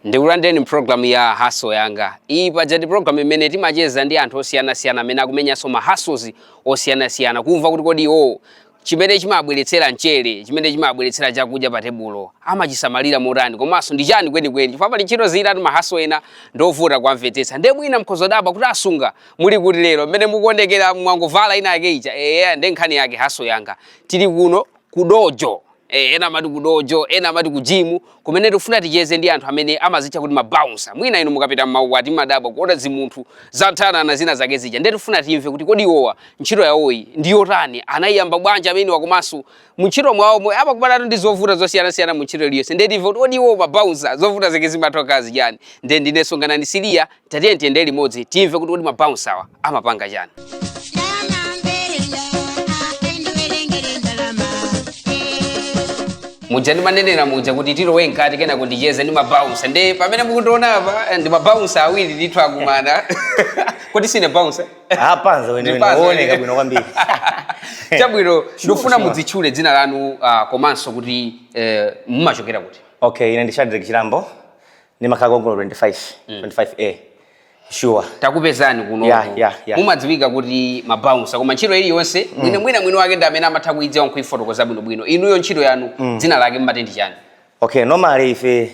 ndikulandireni mpulogalamu ya haso yanga iyi paja ndi pulogalamu mmene timacheza ndi anthu osiyanasiyana amene akumenyanso mahaso osiyanasiyana kumva kuti kodi iwowo chimene chimawabweretsera mchere, chimene chimawabweretsera chakudya pa tebulo, amachisamalira motani komanso ndi chani kwenikweni, chifukwa pali ntchito zina ati mahaso ena ndovuta kuwamvetsetsa. Ndiye mwina mukhoza kudabwa kuti asunga muli kuti lero, mmene mukuonekera mwangovala ina yake ija, eya ndiye nkhani yake haso yanga. Tili kuno ku dojo. Eh, ena amati ku dojo, ena amati ku jimu, kumene tikufuna ticheze ndi anthu amene amazitcha kuti mabounsa. Mwina inu mukapita m'maukwati mumadabwa kuona zimunthu zathanana zina zake zija, ndiye tifuna timve kuti kodi iwowa ntchito yawoyi ndi yotani, anayiyamba bwanji ameniwa, komanso muntchito mwawomo amakumanatu ndi zovuta zosiyanasiyana mu ntchito iliyonse, ndiye timve kuti kodi iwowo mabounsa zovuta zake zimatha kukhala zichani. Ndiye ndinenso Nganani Siliya Tatiyeni tiyende limodzi timve kuti kodi mabounsawa amapanga chani. muja ndimanenera muja kuti tilowe mkati kenako ndicheze ndi mabounsa nde pamene mukutiona apa eh, ndi mabounsa awiri ndithu akumana kodi sine bounsa apanza wenewe Ndipanza wooneka wenewe. bwino kwambiri chabwino ndikufuna sure. mudzitchule dzina lanu ah, komanso kuti eh, mumachokera kuti okay ine ndi shadrek chilambo ndimakhala konkuno 25 25 a sure takupezani kuno Yeah, yeah, yeah. mumadziwika kuti mabounsa koma ntchito iliyonse mwina mwini wake ndi amene amatha kuidziwa nkuifotokoza bwinobwino inuyo ntchito yanu dzina lake mmati ndi chani okay normally ife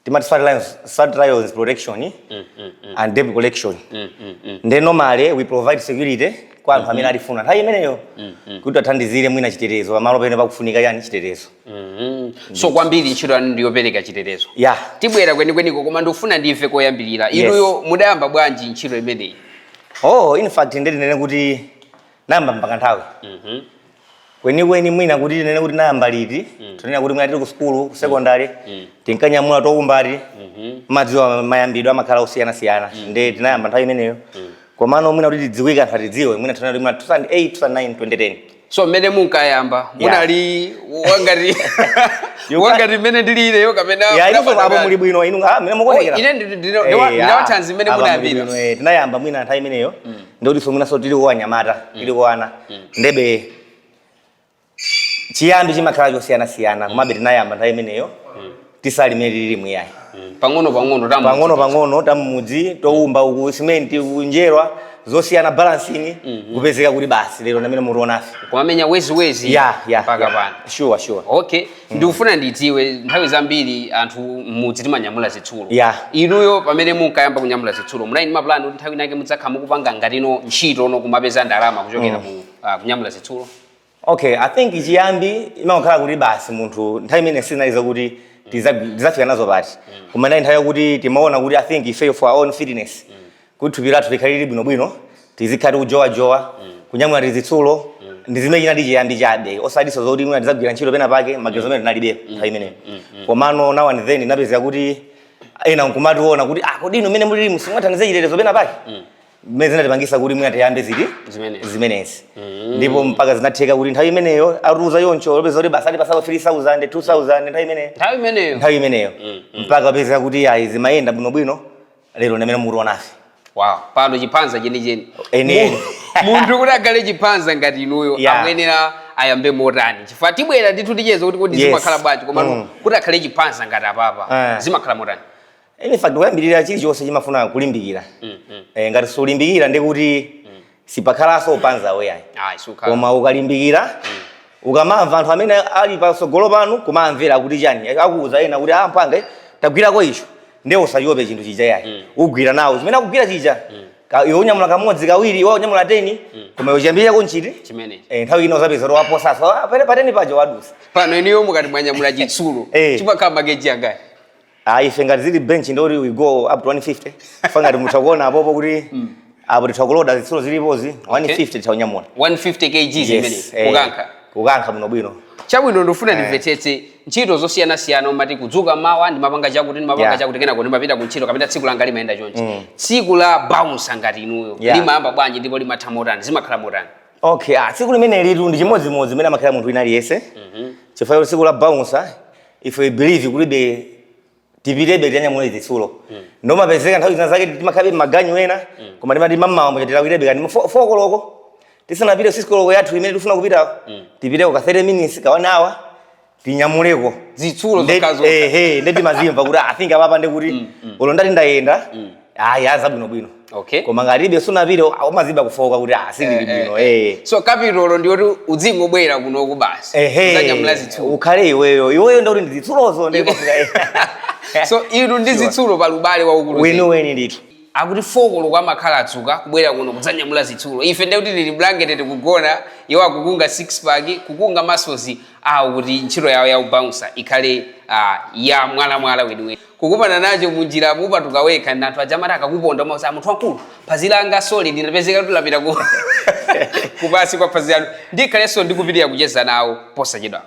timati swat lions swat lions protection and debt collection nde normally we provide security kwa anthu amene atifuna nthawi imeneyo kuti tiwathandizire mwina chitetezo pamalo pena pakufunika chani chitetezo Mm. so kwambiri ntchito yanu ndi yopereka chitetezo Yeah. tibwera kwenikweniko koma ndikufuna ndimve koyambirira Yes. inuyo mudayamba bwanji ntchito imeneyi oh in fact ndinene kuti nayamba mpaka nthawi Mhm. kwenikweni mwina kuti tinene kuti nayamba liti tinena kuti mwina tili ku sukulu ku secondary tinkanyamula tokumbati Mhm. mmadziwa mayambidwe amakhala osiyanasiyana nde tinayamba nthawi imeneyo komano mwina kuti tidziwike anthu atidziwe mwina tinena kuti mwina 2008 2009 2010 so mmene munkayamba munali wangati wangati mmene ndili ineyo kapena Ya, inunso munapanda apo kale? muli bwino inu ah, mmene mukuonekera. Oh, ine ndi- ndi- Eh, ndiwa- ah, ndinawathanzi mmene apa muli munayambira. bwino, eh, tinayamba mwina nthawi imeneyo ndikuti so mwinanso tili anyamata tili ana ndebe chiyambi chimakhala chosiyanasiyana komabe tinayamba nthawi imeneyo tisali mmene tililimu yayi mm. pang'ono pang'ono tamu pang'ono pang'ono tam'mudzi toumba ku simenti kunjerwa zosiyana balancing mm -hmm. kupezeka kuti basi lero ndi amene mukutionafe kumamenya wezi wezi ya ya mpaka yeah. pano sure sure okay mm. ndikufuna ndidziwe nthawi zambiri anthu m'mudzi timanyamula zitsulo yeah. inuyo pamene munkayamba kunyamula zitsulo munali ndi mapulani kuti nthawi inake mudzakhala mukupanga ngatino ntchito no kumapeza ndalama kuchokera mm. mu uh, kunyamula zitsulo Okay, I think chiyambi imangokhala kuti basi munthu nthawi imene sizinali zakuti tiza- tizafika nazo pati koma inali nthawi yakuti timaona kuti I think ifeyo for our own fitness kuti thupi lathu likhale lili bwinobwino tizikhala tikujowajowa kunyamula tizitsulo ndi zimene chinali chiyambi chabe osatiso zoti mwina tizagwira ntchito pena pake maganizo amene tinalibe nthawi imeneyo komano now and then inapezeka kuti ena nkumationa kuti ah kodi inu mmene mulili musingathandize chitetezo pena pake zimene zinatipangisa kuti mwina tiyambe ziti Zimenezi. zimenezi ndipo mpaka zinatheka kuti nthawi imeneyo atiuza choncho kupezeka kuti basi atipatsako 3000 2000 nthawi imeneyo nthawi imeneyo nthawi imeneyo mpaka kupezeka kuti ayi zimayenda bwinobwino lero ndi amene mukutionafe wow pano chiphanza chenicheni Eni, eni. Mu- munthu kuti akhale chiphanza ngati inuyo Yeah. akuyenera ayambe motani chifukwa tibwera ndithu ticheza kuti kodi Yes. zimakhala bwanji koma Mm. kuti akhale chiphanza ngati apapa Eh. zimakhala motani In fact, kuyambirira chilichonse chimafuna kulimbikira. Mm, mm. Eh, ngati sulimbikira ndi kuti mm. sipakhalanso uphanza iyayi. Ah, Koma ukalimbikira mm. ukamamva anthu amene ali patsogolo panu kumamvera kuti chani eh, akuuza ena kuti ampange ah, tagwirako icho ndiye usachiope chinthu chija yayi mm. ugwire nawo zimene akugwira chija mm. Kaya iwe unyamula kamodzi kawiri iwo anyamula teni mm. koma iwe chiyambire kuchinthu chimene eh, nthawi ina uzapeza kuti waposanso ah, pene pateni paja wadutsa pano inuyo mukati mwanyamula chitsulo eh. chimakhala makeji angati Ah, ife ngati zili bench ndi oti we go up to 150. Fa ngati mutha kuona apopo kuti apo titha kuloda zitsulo zilipozi 150 titha kunyamula. 150 kg Yes, zimene eh, kukankha Kukankha bwino bwino. chabwino ndifuna ndimvetsetse ntchito zosiyanasiyana mumati kudzuka mmawa ndimapanga chakuti ndimapanga Yeah. chakuti kenako ndimapita ku ntchito kapena tsiku langa limayenda chonchi tsiku la bouncer ngati inuyo Yeah. limayamba bwanji ndipo limatha motani zimakhala motani Okay, ah, tsiku limenelitu ndi chimodzimodzi zimene amakhala munthu wina aliyense. Chifukwa choti tsiku la bouncer ife we believe kutibe tipitebe tinyamule zitsulo nde umapezeka nthawi zina zake timakhalabe maganyu ena koma timati mamawa mbocha tilawirebe kaya ndi fokoloko tisanapite six koloko yathu imene tifuna kupitako tipiteko ka 30 minutes ka one hour tinyamuleko Zitsulo Nde- zokhazo. ehe, nde timazimva kuti i think apapa ndekuti olo ndati ndayenda ayi azabwinobwino okay koma ngati sunapite umadziwa kufoka kuti ah, sindili eh, bwino eh, eh. so kapitolo ndi kuti udzingobwera kunoku basi uzanyamula zitsulo ukhale iweyo iweyo ndakuti ndi zitsulozo so inu ndi zitsulo pa lubale waukulu weniweni ndithu akuti folokolo kwa makhala atsika kubwera kuno kudzanyamula zitsulo ife ndiye kuti tili blanket tikugona iwo akukunga six pack kukunga masozo awo kuti ntchito yawo ya ubouncer ikhale uh, ya mwalamwala weniweni Kukumana nacho munjira mupatuka wekha ndi anthu aja amati akakuponda umauza "Ah, munthu wamkulu phazi langa sole linapezeka kuti lapita ku kupasi kwa phazi lanu ndikhalenso ndikupitiriza kucheza nawo posachedwapa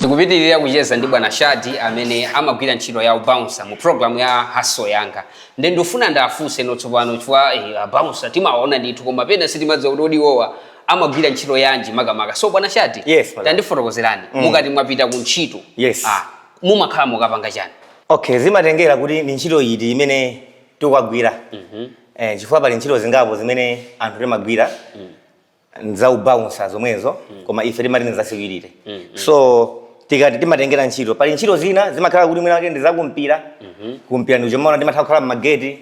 tikupitiriza kucheza ndi bwana shadi amene amagwira ntchito ya ubounsa mu pulogalamu ya hustle yanga nde ndifuna ndafunse ano tsopano chifukwa eh, abounsa timawaona ndithu koma pena sitimadziwa kuti kodi iwowa amagwira ntchito yanji makamaka so bwana shadi Yes, madam. tandifotokozerani Mm. mukati mwapita ku ntchito Yes. ah, mumakhala mukupanga chani okay zimatengera kuti ndi ntchito iti imene tikukagwira eh, chifukwa pali ntchito zingapo zimene anthu timagwira nzaubounsa zomwezo koma ife timati nzasecurity so tikati timatengera ntchito pali ntchito zina zimakhala kuti mwina wake ndi zakumpira kumpira ndi kumene timatha kukhala mmageti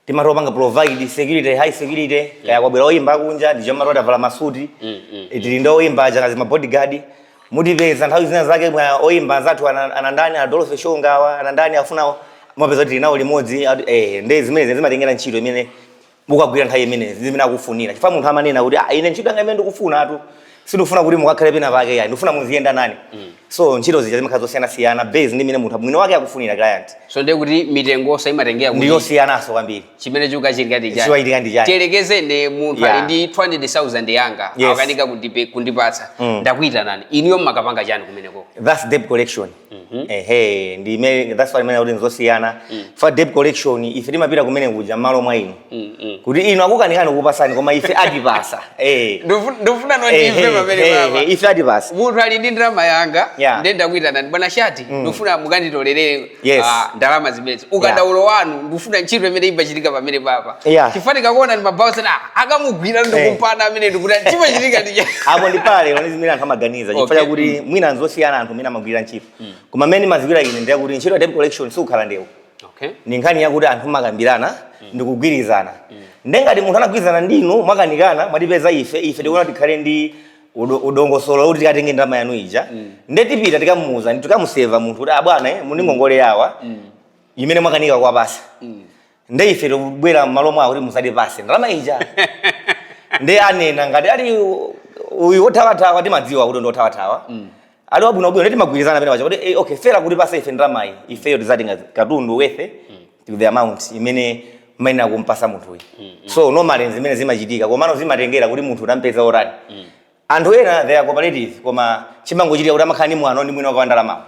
timatha kupanga provide security high security kaya kwabwera oyimba akunja ndiye timakhala titavala masuti Mm, mm. Eh, tili ndi oyimba aja ngati mabodyguard mutipeza nthawi zina zake mwa oyimba anzathu ana- anandani adolo shongawa anandani afuna mumapeza kuti tili nawo limodzi ati, eh, ndi zimenezi zimatengera ntchito imene mukagwira nthawi imenezi zimene akufunira chifukwa munthu amanena kuti ah, ine ntchito yanga imene ndikufuna atu sindikufuna kuti mukakhale pena pake yayi ndikufuna muziyenda nane mm. so ntchito zija zimakhala zosiyanasiyana based ndi mene munthu mwini wake akufunira client so ndiye kuti mitengonso imatengera kuti ndiyosiyananso kwambiri chimene chikuchitika chani chimachitika ndi chani tiyerekezeni munthu ali ndi 200000 yanga yes. akanika kundipatsa mm. ndakuitanani inuyo mumakapanga chani kumeneko that's debt collection Mhm. ehe ndi imene that's why timanena kuti nzosiyana for debt collection ife timapita kumene kuja mmalo mwa inu Mm, mm. kuti inu akukanikani kupasani koma ife atipasa eh Ndofu- ndofuna Eh, ndimve eh, pamene eh, papa eh, ife atipasa munthu ali ndi ndalama yanga Yeah. ndiye ndakuitanani bwana shadi ndifuna mukanditolerere Yes. ah, ndalama zimenezo ukadaulo wanu ndifuna ntchito imene imachitika pamene papa Yeah. chifukwa kakuona ndi mabounsa akamugwira ndikumpana kumene ndikuta chimachitika ndi apo ndi pamenepo ndi zimene anthu amaganiza chifukwa Okay. chakuti mwina nzosiyana anthu amene amagwira ntchito mm. koma mmene ndimadziwira ine ndiye kuti ntchito ya debt collection sikukhala ndewu okay. ni nkhani yakuti anthu mumakambirana mm. ndi kugwirizana mm. nde ngati munthu anagwirizana ndinu mwakanikana mwatipeza ife ife tikuona tikhale ndi dongosolo kuti tikatenge ndalama yanu ija mm. nde tipita tikamuuza tikamuseva munthu kuti abwana ah, eh, muli ndi ngongole yawa mm. imene mwakanika kuwapatsa mm. nde ife tikubwera m'malo mwawo kuti mutipatse ndalama ija nde anena ngati ali u- uyu wothawathawa timadziwa kuti ndi wothawathawa ali wabwinobwino nde timagwirizana pena pacha kuti eh, okay fera kuti pase ife ndalamayi ifeyo tizatenga katundu wethe to the amount imene maina kumpasa munthuyi so normally zimene zimachitika komano zimatengera kuti munthu utampeza otani anthu ena they are cooperative koma chimangochitika kuti amakhala ni mwano ndi mwina wake wandalamawo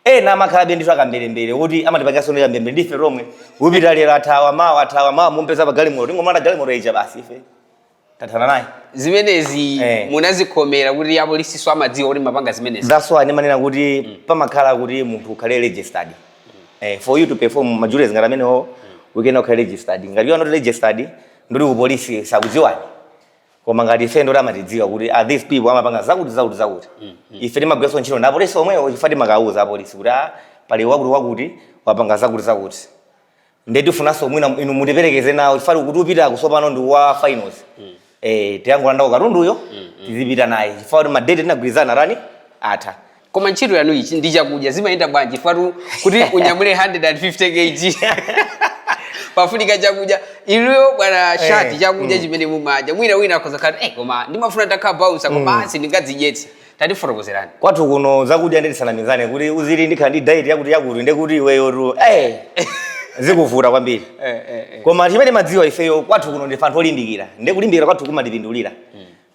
Ena amakhalabe ndithu akamberembere woti amatipangiranso ndi kamberembere ndi ife tomwe. Upita lero athawa, mawa athawa, mawa mumupeza pa galimoto. Tingomulanda galimoto ija basi ife tathana naye. Zimenezi Eh. munazikhomera kuti apolisinso amadziwa kuti mapanga zimenezi. That's why ndimanena kuti pamakhala kuti munthu ukhale registered. Eh, for you to perform ma duties ngati amenewo uyenera ukhale registered. Ngati you are not registered, ndoti ku polisi sakudziwani. koma ngati ife ndoti amatidziwa kuti ah, these people amapanga zakuti zakuti zakuti ife timagwiranso ntchito ndi apolisi omwewo chifukwa timakawuza apolisi kuti ah, pali wakuti wakuti wapanga zakuti zakuti nde tifunanso mwina inu mutiperekeze nawo chifukwa kuti upita kutsopano ndi wa finals eh tikangolandako katunduyo tizipita naye chifukwa kuti madate tinagwirizana tani atha koma ntchito yanu ichi ndi chakudya zimayenda bwanji chifukwa tu- kuti unyamule 150 kg pafunika chakudya iliyo bwana shati Eh, chakudya chimene mumadya mwina wina akhoza khala eh koma ndimafuna nditakhala bouncer koma asi ndingadzidyetse tandifotokozerani kwathu kuno zakudya ndisanamizane kuti uziri ndikukhala ndi diet yakuti yakuti ndekuti iweyo tu eh, zikuvuta kwambiri eh, eh, eh. koma chimene madziwa ifeyo kwathu kuno ndife anthu olimbikira ndekulimbikira kwathu kumatipindulira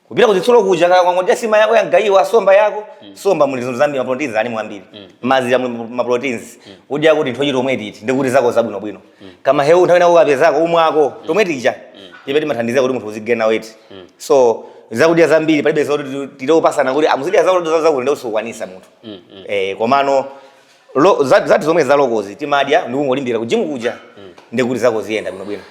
kupita kuzitsulo kuja kaya wangodya sima yako yamgayiwa somba yako mm. somba muli zinthu zambiri maproteins ali mwambiri mm. mazira muli maproteins mm. udya tinthochi tomwe titi ndi kuti zako zabwino bwino mm. kamahewu nthawi nako kapezako umwako mm. tomwe tija mm. ife timathandizira kuti munthu uzigena weight mm. so zakudya zambiri palibe zoti tilupasana kuti ah muzidya ah, zakudya zakuti ndiye uzikwanisa munthu mm. mm. eh komano Lo- za- zathu zomwe zalokozi timadya ndikungolimbikira kujimu kuja ndikuti zako ziyenda bwinobwino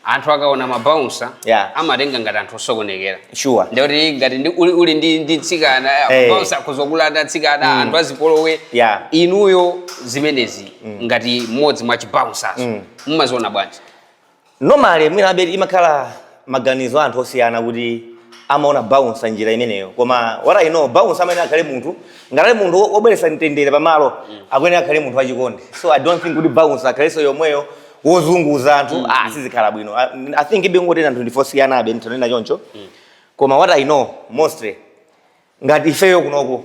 anthu akaona mabaunsa Yeah. amatenga ngati anthu osokonekera sure ndikuti ngati ndi- uli, uli ndi, ndi tsikana Eh. mabaunsa akhozokulanda tsikana anthu azipolowe Yeah. inuyo zimenezi ngati mmodzi mwa chibaunsazo mumaziona bwanji Normally mwinabe imakhala maganizo a anthu osiyana kuti amaona bouncer njira imeneyo koma what I know bouncer amayenera akhale munthu ngati ali munthu wobweretsa mtendere pamalo akuyenera akhale munthu wachikondi so I don't think kuti bouncer akhalenso yomweyo wozunguza anthu ah sizikhala bwino I, I think ndibe ngoti anthu ndife osiyanabe nditanena choncho koma what I know mostly ngati ifeyo kunoko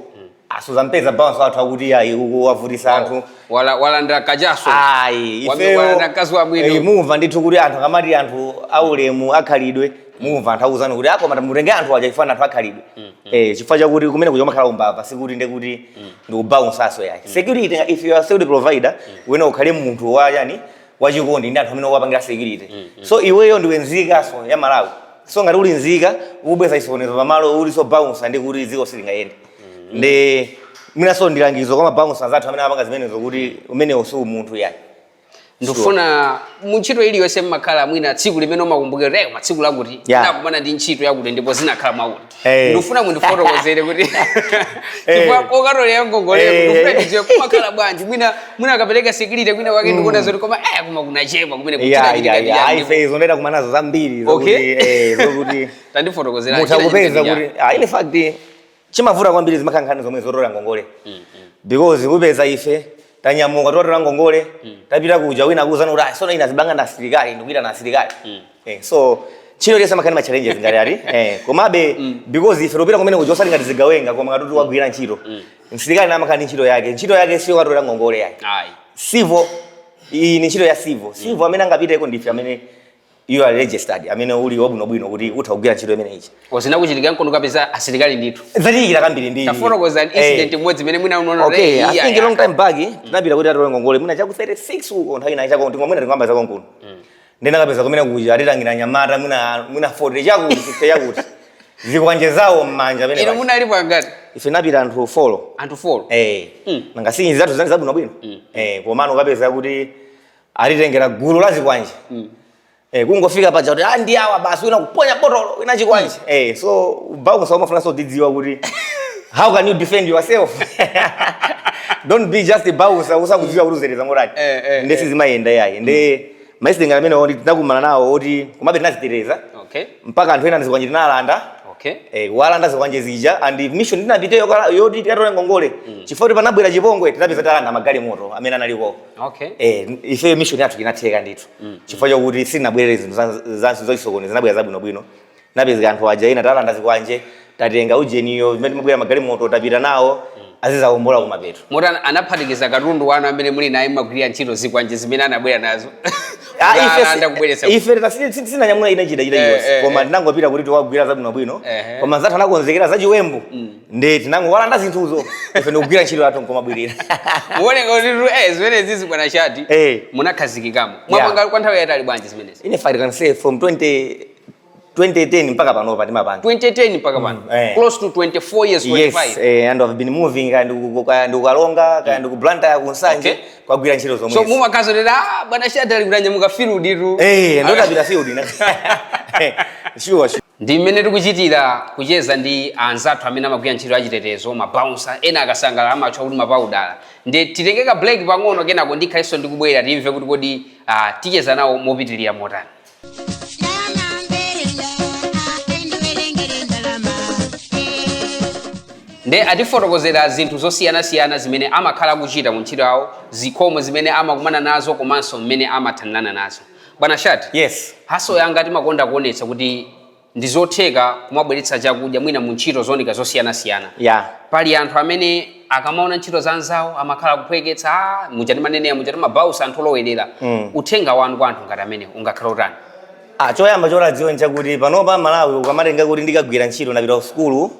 ah suzampeza bouncer wathu akuti ayi uku wavutisa anthu Wala- walandira kachaso ayi Wame- ifeyo walandira mkazi wa mwini eh, mumva ndithu kuti anthu akamati anthu aulemu akhalidwe mumva anthu akuuzani kuti ah koma mutenge anthu aja chifukwa anthu akhalidwe eh chifukwa chakuti kumene kuja umakhala umbava sikuti nde kuti ndikubounce aso yake security if you are security provider uyenera ukhale munthu wa chani wachikondi ndi anthu amene ukuwapangira security mm, mm. so iweyo ndiwe nzikanso ya malawi so ngati uli nzika ukubweza chisokonezo pamalo ulinso bouncer nde kuti dziko silingayende mm. ndi mwinanso ndi langizo kwa mabouncer anzathu amene amapanga zimenezo kuti umenewo si umunthu yayi ndikufuna muntchito iliyonse mmakhala mwina tsiku limene umakumbukira kuti pa tsiku lakuti yeah. nakumana ndi ntchito yakuti ndipo zinakhala mwakuti Eh. ndikufuna mundifotokozere kuti chifukwa kokatolera ngongoleko Eh. ndikufuna ndidziwe kumakhala bwanji mwina mwina akapereka security kwina kwake ndikuona zoti koma eh koma kunachema kumene Yeah, yeah, yeah. kuchitachitikaia Ayi, ife, izo ndaenda kumana nazo zambiri Okay. zokuti eh, zokuti tandifotokozera mutha kupeza kuti ah, in fact chimavuta kwambiri zimakhala nkhani zomwe zotolera ngongole because kupeza ife tanyamuka tikatolere ngongole mm. tapita kuja wina kuuzana kuti ah, sono ina zibanga na asilikali ndikuitana asilikali mm. eh, so chino lesa makani machallenges ngati ali eh, komabe mm. because ife topita kumene kuja osati ngati zigawenga koma ngati tikagwira ntchito mm. msilikali namakani ntchito yake ntchito yake siyo katola ngongole yake civil iyi ni ntchito ya civil civil mm. amene angapiteko ndife amene you are registered amene uli wabwinobwino kuti utha kugwira ntchito imeneyi zinakuchitika nkono kapeza asilikali ndithu zachitika kambiri ndi tafotokoza incident imodzi imene mwina unaona okay i think long time back mm. tinapita kuti atole ngongole mwina cha ku 36 uko nthawi ina chako tingonena tingokamba za konkuno mm. tinakapeza kumene kuja atitengera anyamata mwina mwina 40 chakuti 50 chakuti zikwanje zawo mmanja pamene inu munalipo angati ife tinapita anthu 4 anthu 4 eh mm. nanga sinyi zathu zinali zabwino bwino mm. eh komano kukapeza kuti atitengera gulu la zikwanje mm. eh, kungofika paja kuti ah, ndi awa basi wina kuponya botolo wina chikwanje mm. eh, so bouncer umafunikanso udzidziwa kuti how can you defend yourself don't be just bouncer usakudziwa kuti udziteteza motani eh, eh, nde eh. sizimayenda yayi nde mm. maisitengera amene oti tinakumana nawo oti komabe tinadziteteza okay. mpaka anthu ena zikwanje tinalanda okay. eh, kuwalanda zikwanje zija and mission tinapitirayo yoti tikatole ngongole mm. chifukwa kuti panabwera chipongwe tinapezeka talanda magalimoto amene analiko okay eh ife mission yathu inatheka ndithu mm. chifukwa chakuti sitinabwerere zinthu za- za- zachisokonezo tinabwerera zabwino bwino napezeka anthu aja ena talanda zikwanje tatenga ujeniyo zimene tinabwerera magalimoto tapita nawo azidzaombola kumapeto moti ana- anaphatikiza katundu wanu amene muli naye mmagwirira ntchito zikwanje zimene anabwera nazo Ah, ife si- anaanda kubweretsa ife tena si- si- sitinanyamula china chida chida Eh, eh, chilichonse koma eh. tinangopita kuti tikagwire zabwino bwino Ehe. koma anzathu anakonzekera zachiwembu nde tinangowalanda zinthuzo ife ndikugwira ntchito yathu nkumabwerera mukuoneka kuti tu, eh, zimenezizi bwana chati Eh. munakhazikikamo mwapanga kwa nthawi yaitali bwanji zimenezi in fact can say from 20 2010 mpaka panopa timapanga 2010 mpaka pano Mm, eh. close to 24 years 25 yes eh, and i've been moving kaya ndiku- kaya ndi ku karonga kaya ndi ku blantyre ku nsanje Okay. kukagwira ntchito so zomwe mumakazo tera ah, bwana chati ali kutanyamuka field tu eh ndotapita field na sure sure Ndi mmene tikuchitira kucheza ndi anzathu amene amagwira ntchito ya chitetezo, ma bouncer, ena akasangalala amatchedwa kuti ma paudala. Ndiye titenge ka break pang'ono kenako ndikhalenso ndikubwera timve kuti kodi ah, ticheza nawo mopitilira motani. nde atifotokozera zinthu zosiyanasiyana zimene amakhala akuchita mu ntchito yawo zikhomo zimene amakumana nazo komanso mmene amathanirana nazo bwana Shad yes Haso Yanga timakonda kuonetsa kuti ndi zotheka kumabweretsa chakudya mwina mu ntchito zooneka zosiyanasiyana ya pali anthu amene akamaona ntchito za anzawo amakhala akuphweketsa "Ah, mwina timanenera kuti mabausa anthu olowerera Mm. uthenga wanu kwa anthu ngati amenewo ungakhale utani Ah, choyamba choti adziwe nchakuti panopa Amalawi ukamatenga kuti ndikagwira ntchito ndapita kusukulu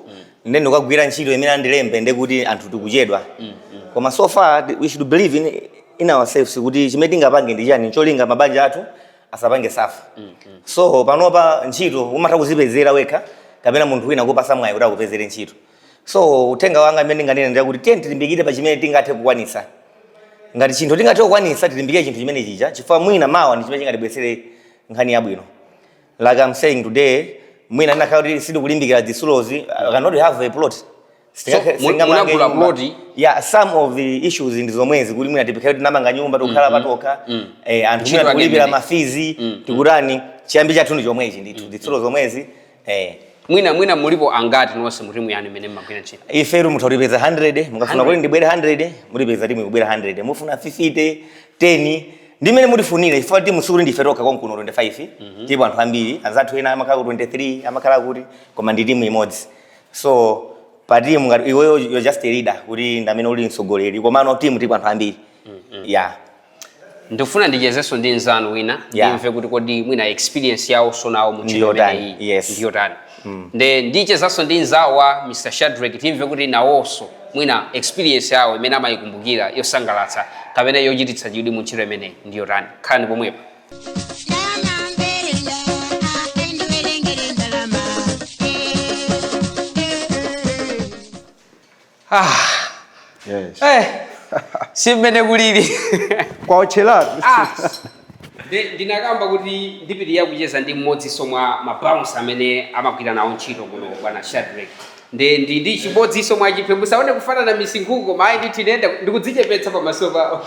nde ndikagwira ntchito imene andilembe nde kuti anthu tikuchedwa mm, mm. koma so far we should believe in, in ourselves kuti chimene tingapange ndi chani cholinga mabanja athu asapange safa mm, mm. so panopa ntchito umatha kuzipezera wekha kapena munthu wina kukupatsa mwayi kuti akupezere ntchito so uthenga wanga amene ndinganena ndi kuti tiyeni tilimbikire pa chimene tingathe kukwanisa ngati chinthu tingathe kukwanisa tilimbikire chinthu chimene chijacho chifukwa mwina mawa ndi chimene chingatibweretsere nkhani yabwino like I'm saying today mwina ndikanakhala kuti sindikulimbikira zitsulozi I cannot have a plot Singakhe- mu- singamange munagula nyumba. plot? yeah some of the issues ndi zomwezi kuti mwina tipezeka kuti tamanga nyumba tikukhala patokha eh, anthu antchito ena ake tikulipira ma fizi tikutani chiyambi chathu ndi chomwechi ndithu zitsulo zomwezi eh, mwina mwina mulipo angati nonse mu timu yanu imene mmagwira ntchito ifetu mutha kutipeza 100 mukafuna 100. kuti ndibwere 100 mutipeza timu ikubwera 100 mufuna 50 10 ndi mmene mutifunire chifukwa timu sikuti ndife tokha konkuno 25 mhm. tilipo anthu ambiri anzathu ena amakhala ku 23 amakhala kuti koma ndi timu imodzi so pa timu ngati iweyo you're just a leader kuti ndi amene uli mtsogoleri komano timu tilipo anthu ambiri mhm. ya ndikufuna ndichezenso ndi mzanu wina ndimve kuti kodi mwina experience yawonso nawo mu ntchito imeneyi ndiyotani Nde ndichezanso ndi nzawo wa Mr Shadreck timve kuti nawonso mwina experience yawo imene amayikumbukira yosangalatsa kapena yochititsa chidwi mu ntchito imeneyi ndi yotani. Khalani pomwepa. Ah. Yes. Eh. Ndi mmene kulili. Okondedwa owonera. Ah. Ndinakamba kuti ndipitiliza kucheza ndi mmodzinso mwa ma bouncer amene amagwira nawo ntchito kuno kwa bwana Shadrack. Nde ndi ndi chimodzinso mwa ziphona musaone kufanana misinkhuku koma ine ndithu ndikudzichepetsa pamaso pawo.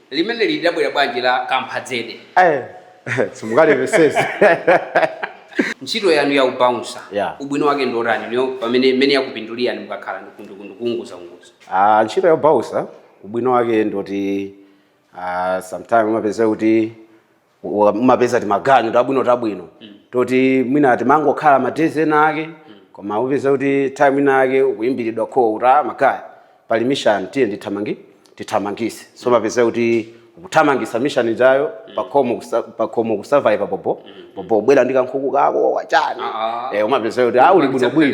Limeneli labwera bwanji la kamphadzede? Eeh simungalimvetsetse. Ntchito yanu ya u bouncer Yeah. ubwino wake ndi otani inuyo pa mmene mmene yakupindulirani mukakhala ndi kuuu kuu kuunguza unguza? Ah, ntchito ya bouncer ubwino wake ndi oti ah, sometime umapezeka kuti wa- umapeza timaganyu tabwino tabwino toti mwina timangokhala madezi ena ake koma upeza kuti time ina ake ukuyimbiridwa call kuti ah makaya pali mission tiye ndithamangi tithamangise so mapeza kuti kuthamangisa mission ijayo pakhomo kusa- pakhomo kusurvive bobo bobo ubwera ndi kankhuku kako wachani Ah, ah. eh umapeza kuti ah uli bwino bwino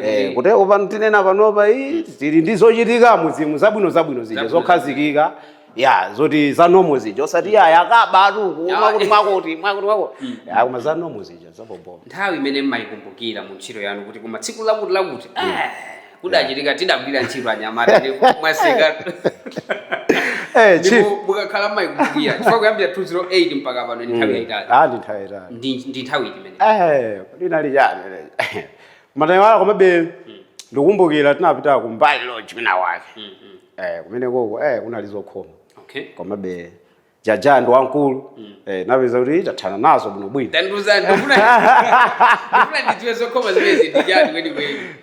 Eh, kuti upa tinena panopa iyi tili ndi zochitika muzimu zabwino zabwino zija Zabwino. zokhazikika ya zoti za normal zija osati ya yakabatu mwakuti mwakuti mwakuti mwakuti mm. ya koma za normal zija za bobo nthawi imene mmayikumbukira mu ntchito yanu kuti koma tsiku lakuti lakuti mm. eh, kudachitika tidagwira ntchito anyamata ndipo mwaseka eh, mukakhala mmayikumbukira chifukwa kuyambira 2008 mpaka pano ndi nthawi mm. yayitali ah, ndi nthawi yayitali ndi nthawi iti imene eh, linali chani matayiwala komabe ndikukumbukira tinapita Kumbali Lodge kwina wake eh, kumenekoko eh, kunali zokhoma okay. komabe Jah Jah ndi wamkulu mm. eh, napeza kuti tathana nazo bwinobwino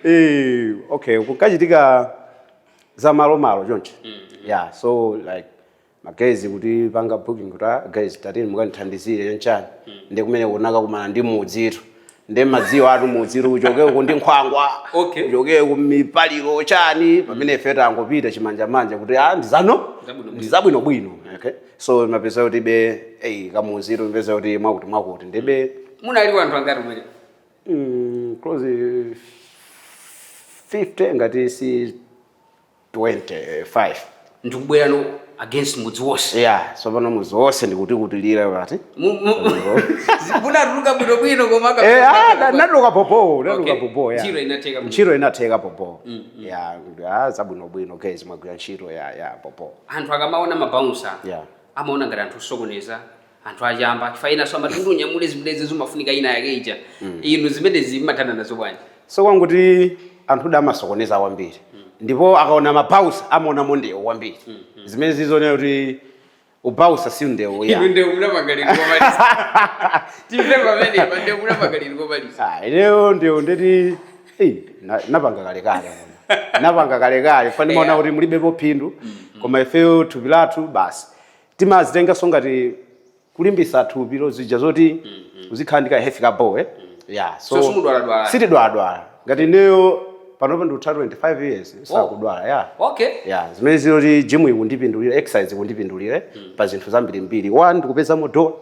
eh, okay kukachitika za malomalo choncho mm -hmm. yeah so like ma guys kutipanga booking kuti ah, guys tatini mukandithandizire chanchani ndi kumene tinakakumana ndi mudzitu ndi madziwo atu mudzitu uchoke uku ndi nkhwangwa Okay. uchoke uku mipaliro chani pamene ife tangopita chimanjamanja kuti ah, ndizano Zabwinobwino. ndizabwinobwino okay so mapeza kuti be eyi kamudzitu mapeza kuti mwakuti mwakuti ndibe munali wanthu angati umene mm, close 50 ngati si 25 ndikubwerano against mudzi wonse yeah tsopano mudzi wonse ndikutikutilira pati Mu- mu- munatuluka bwinobwino koma aka- Eh, ah, na- natuluka bobo natuluka Okay. bobo yeah. Ntchito inatheka bwino. ntchito inatheka bobo yeah ah, zabwinobwino guys mwagwira ntchito ya ya bobo anthu akamaona mabaunsa Yeah. amaona ngati anthu osokoneza anthu achamba chifukwa enanso amati kuti unyamule zimenezi zimafunika ina yake ija mm. inu zimenezi mmathana nazo bwanji so kwangoti anthu da amasokoneza kwambiri mm. ndipo akaona mabaunsa amaonamo ndewu kwambiri mm, mm. zimene zizonera kuti ubaunsa si ndewu ya ndewu munamagaliro kobalisa timve pamene pa ndewu munamagaliro kobalisa ah ineyo ndewu ndeti eh napanga kale kale napanga kale kale chifukwa ndimaona kuti mulibepo phindu mm, koma ifeyo thupi lathu basi timazitenganso ngati kulimbisa thupilo zija zoti mm-hmm. uzikhala ndi ka health ka bo eh? mm-hmm. ya so sitidwaladwala ngati ineyo panopo ndikutha 25 years oh. sakudwala ya okay ya zimene ziloti gym ikundipindulira exercise ikundipindulira eh? mm. pa zinthu zambirimbiri one ndikupezamo dola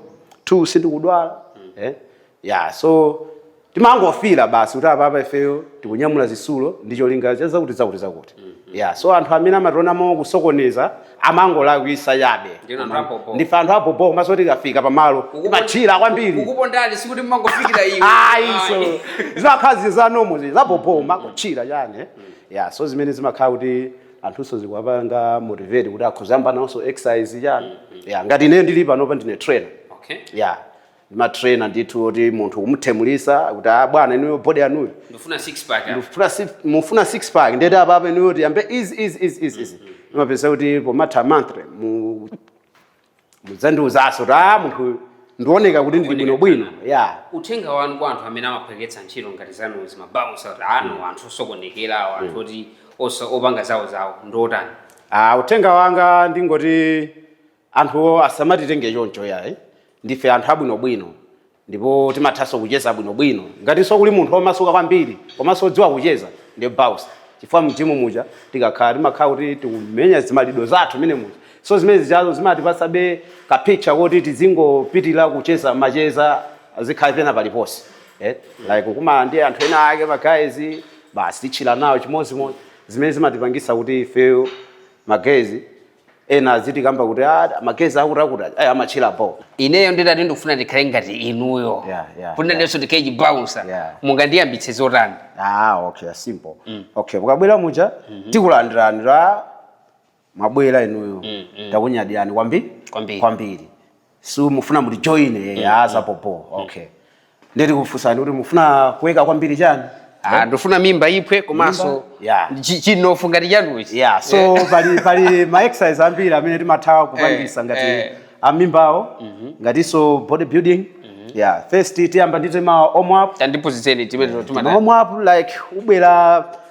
two sindikudwala mm. eh? ya so timangofila basi kuti apapa ifeyo tikunyamula zisulo ndi cholinga cha zakuti zakuti zakuti mm-hmm. ya so anthu amene amationa mosokonekera amangolakwisa chabe ndife anthu abhobho komanso tikafika pamalo kumathira kwambiri ayi so zimakhala zinthu za normal zi zabhobho makuthira chani eh? mm. ya so zimene zimakhala kuti anthunso zikuwapanga motivate kuti akhoza yamba nawonso ma exercise chani mm-hmm. ya ngati ine ndili panopa ndine trainer okay. yeah ndima trainer ndithu oti munthu kumunyamulisa kuti a ah, bwana inuyo body yanuyi mufuna six pack ndifuna six mufuna six pack ndiye apa apa inuyo tiyambe izi izi izi izi izi mupeza kuti pomatha monthly mudzandiuzaso kuti a ah, munthu ndioneka kuti ndili bwino bwino ya uthenga wanu kwa anthu amene amaphweketsa ntchito ngati zanuzi mabaunsa kuti awa mm. anthu osokonekerawo anthu mm. oti opanga zawo zawo ndiotani ah, uthenga wanga ndingoti Anthuwo asamatitenge choncho yayi. Ndife anthu abwinobwino ndipo timathanso kucheza bwinobwino. Ngatinso kuli munthu womasuka kwambiri komanso wodziwa kucheza ndiye Bouncer chifukwa m'jimu muja tikakhala timakhala kuti tikumenya zimaround zathu mmene muja. So zimene zijazo zimatipatsabe ka picture koti tizingopitirira kucheza macheza azikhala pena paliponse. Like kukumana ndi anthu ena ake ma guys basi titchila nawo chimodzimodzi. Zimene zimatipangitsa kuti ifeyo ma guys. ena azitikamba kuti ah, ma guys akuti akuti ayi amatchira bo ineyo nditati ndikufuna ndikhale ngati inuyo Yeah, yeah, kuti nanenso ndikhale chibaunsa Yeah. mungandiyambitse zotani ah okay simple okay mukabwera muja tikulandirani la mwabwera inuyo takunyadirani kwambiri Kwambiri. kwambiri si mufuna mutijoine eh, mm. ah, zabhobho mm. okay nde tikufunsani kuti mufuna kuweka kwambiri chani Ah, eh? ndifuna mimba iphwe komanso chimnofu ngati chanuchi yeah. so yeah. pali, pali ma exercise ambiri amene timatha kupangisa eh, ngati eh. amimbawo mm -hmm. ngatinso body building mm -hmm. yeah. first tiyamba ndi ma warm up tandiphunzitseni timene eh, timatha warm up like ubwera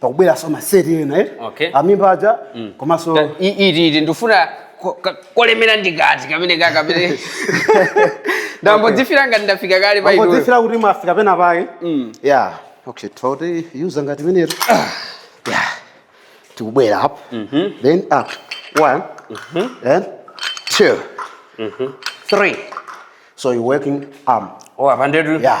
pakubweranso maseti ena eh? Okay. amimba aja komanso Ta- i- iti iti ndifuna ko- ka- kolemera ndikati kamene ka kamene ndingodzifila ngati ndafika kale pa inuyo mungodzifila kuti mwafika pena pake ya okay titiyuza ngati imenetu ya tikubwera apa then up one then two three so you working arm oh apa ndetu ya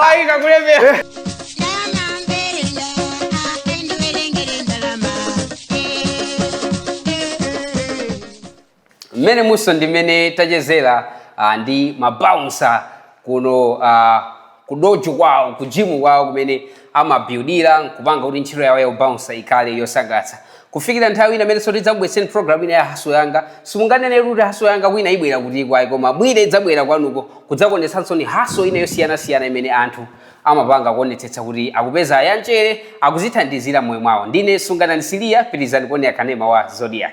Waika kolemera. mmenemu so ndi mmene tachezera ah, ndi mabaunsa kuno ah, kudojo kwawo kujimu kwawo kumene amabuildira nkupanga kuti ntchito yawo ya ubouncer ikhale yosangalatsa kufikira nthawi ina imenenso tidzakubweretsereni program ina ya haso yanga simunganene kuti haso yanga kwinaku ibwera kuti kaya koma mwina idzabwera kwanuko kudzakuonetsanso ni haso ina yosiyanasiyana imene anthu amapanga kuonetsetsa kuti akupeza yanchere akuzithandizira moyo mwawo ndine sunganani siliya pitilizani kuonera kanema wa zodiac